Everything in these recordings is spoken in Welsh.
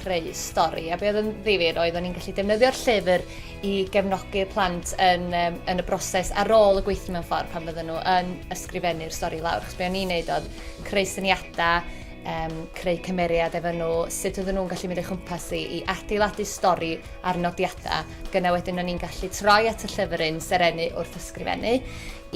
creu stori. A be oedd yn ddifyr oedd o'n i'n gallu defnyddio'r llyfr i gefnogi'r plant yn, um, yn y broses ar ôl y gweithio mewn ffordd pan fydden nhw yn ysgrifennu'r stori lawr. Chos be o'n i'n neud oedd creu syniadau, um, creu cymeriad efo nhw, sut oedden nhw'n gallu mynd o'i chwmpas i, i adeiladu stori ar nodiadau. Gyna wedyn o'n i'n gallu troi at y llyfr yn serennu wrth ysgrifennu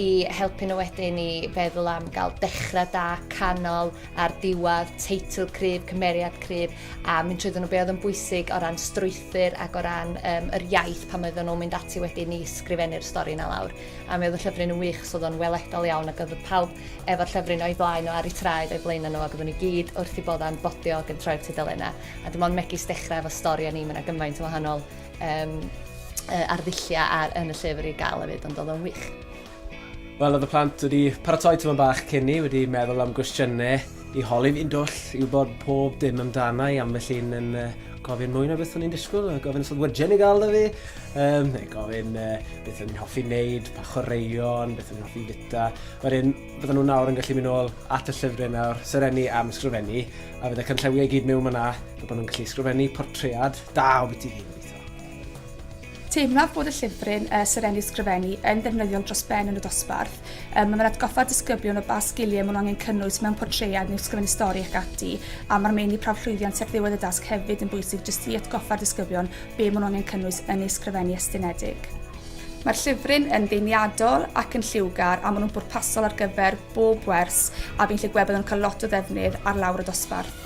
i helpu nhw wedyn i feddwl am gael dechrau da, canol a'r diwadd, teitl cryf, cymeriad cryf, a mynd trwy nhw be oedd yn bwysig o ran strwythyr ac o ran um, yr iaith pan oedden nhw'n mynd ati wedyn ni sgrifennu'r stori na lawr. A mi oedd y llyfryn yn wych, so oedd o'n weledol iawn ac oedd pawb efo'r llyfryn o'i flaen o ar ei traed o'i flaen nhw ac oedden nhw gyd wrth i bodda'n bodio ac yn troi'r tudalenna. A dim ond megis dechrau efo stori a ni, mae'n gymaint o wahanol um, uh, arddulliau ar, yn y llyfr i gael hefyd, ond oedd o'n wych. Wel, oedd y plant wedi paratoi tyma bach cyn ni, wedi meddwl am gwestiynau i holi fi'n dwll, i wybod pob dim amdana i ambell un yn uh, gofyn mwy na beth o'n i'n disgwyl, gofyn os oedd wydgen i gael da fi, um, neu gofyn uh, beth o'n i'n hoffi wneud, pa chwaraeon, beth o'n i'n hoffi fita. Wedyn, bydden nhw'n nawr yn gallu mynd ôl at y llyfrau nawr, serenni am sgrifennu, a fydde cynllewio i gyd mewn yna, bod nhw'n gallu sgrifennu portread da o beth i ddim. Teimlaf bod y llyfryn, uh, Serennu Ysgrifennu, yn ddefnyddiol dros ben yn y dosbarth. Um, mae'n atgoffa disgyblion o ba sgiliau maen nhw angen cynnwys mewn portread neu ysgrifennu stori ac ati, a mae'r meini prawf llwyddiant ar ddiwedd y dasg hefyd yn bwysig jyst i atgoffa'r disgyblion be maen nhw angen cynnwys yn ei ysgrifennu estynedig. Mae'r llyfryn yn ddeiniadol ac yn lliwgar a maen nhw'n bwrpasol ar gyfer bob wers a fi'n lle gweld bod yn cael lot o ddefnydd ar lawr y dosbarth.